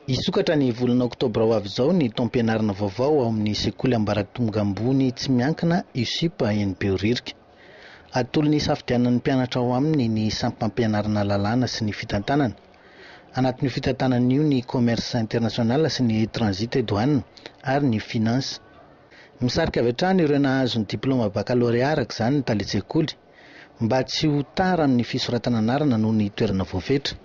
Hisokatra ny volana oktobra ho avy izao ny taom-pianarana vaovao ao amin'ny sekoly ambaratonga ambony tsy miankina USUP eny Behoririka. Atolony hisafidianan'ny mpianatra ao aminy ny sampam-pianarana lalàna sy ny fitantanana. Anatin'io fitantanana io ny commerce international sy ny transit et douane ary ny finance. Misarika avy hatrany ireo nahazo ny diplaoma bakalôrea araka izany ny talen-tsekoly. mba tsy ho tara amin'ny fisoratana anarana noho ny toerana voafetra.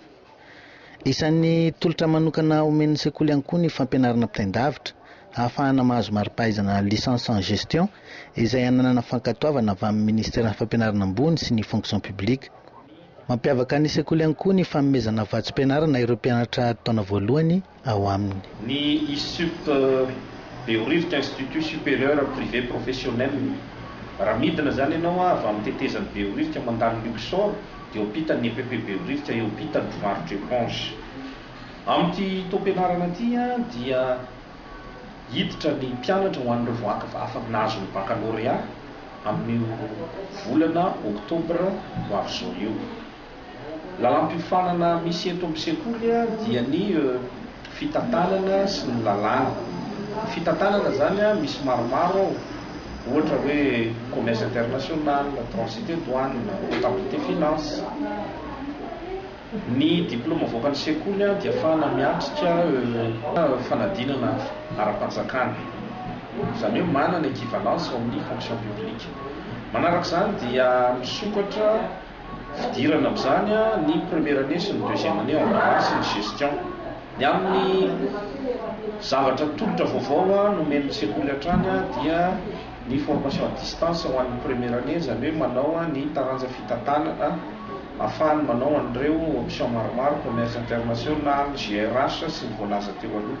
Isan'ny tolotra manokana omen'ny sekoly ihany koa ny fampianarana mpitain-davitra hahafahana mahazo mari-pahaizana Licence en Gestion izay ananana fankatoavana avy amin'ny Ministeran'ny Fampianarana Ambony sy ny Fonction Publique. Mampiavaka ny sekoly ihany koa ny fanomezana vatsim-pianarana ireo mpianatra taona voalohany ao aminy. Ny Issup, Behoririka Institut Supérieur Privé Professionnel. Raha midina izany ianao avy amin'ny tetezan'i Behoririka mandalo Luxor dia eo ampitan'ny EPP Behoririka, eo ampitan'ny mpivarotra éponge. Amin'ity taom-pianarana ity dia hiditra ny mpianatra ho an'ireo voaakv afaka nahazo ny baccalauréat amin'io volana octobre ho avy izao io. Lalàmpiofanana misy eto amin'ny sekoly dia ny fitantanana sy ny lalàna. Ny fitantanana izany misy maromaro ao, ohatra hoe commerce international, transite douane, comptabilité finance. Ny diplaoma avoakan'ny sekoly dia afahana miatrika fanadinana ara-panjakana, izany hoe manana equivalence ao amin'ny fonction publique. Manaraka izany dia misokatra. Fidirana amin'izany ny première année sy ny deuxième année en droit sy ny gestion. Ny amin'ny zavatra tolotra vaovao nomen'ny sekoly hatrany dia ny formation à distance ho an'ny première année, izany hoe manao ny taranja fitantanana ahafahany manao an'ireo option maromaro, commerce international, GRH sy ny voalaza teo aloha.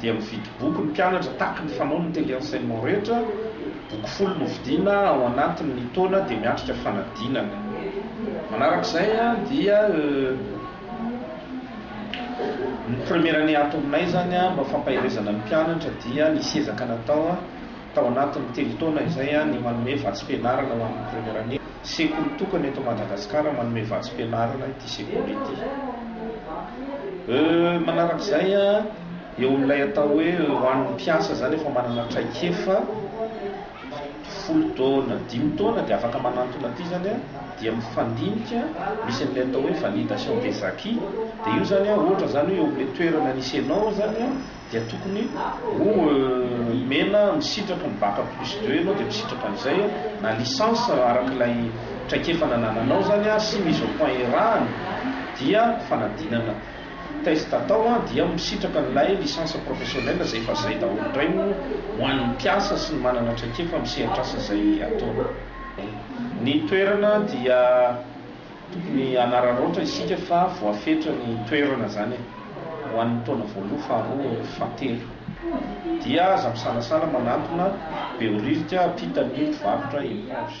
dia mividy boky ny mpianatra tahaky ny fanao ny tele enseignement rehetra, boky folo no vidiana ao anatin ny taona dia miatrika fanadinana. Manaraka izay dia ny première année ato aminay izany mba fampaherezana ny mpianatra dia nisy ezaka natao Tao anatin'ny telo taona izay ny manome vatsim-pianarana ho an'ny Première année, sekoly tokana eto Madagasikara manome vatsim-pianarana ity sekoly ity. Euh, manaraka izay, eo amin'ilay atao hoe ho an'ny mpiasa izany efa manana traikefa, folo taona, dimy taona dia afaka manantona ity izany dia mifandinika, misy an'ilay atao hoe validation des acquis, dia io izany ohatra izany hoe eo amin'ilay toerana nisy ianao izany, dia tokony ho omena misitraka ny bac plus deux ianao dia misitraka an'izay na licence araka ilay traikefa nanananao izany sy mise au point iarahana dia fanadinana test atao an dia misitraka an'ilay licence professionnelle izay efa zay daholo indray no ho an'ny mpiasa sy ny manana traikefa amin'ny sehatr'asa izay ataony. Ny toerana dia. Tokony hanararaotra isika fa voafetra ny toerana zany e! ho an'ny taona voaloha, faharoa, fahatelo. Dia aza misalasala manantona Behoririka ampitan'ny mpivarotra eponge.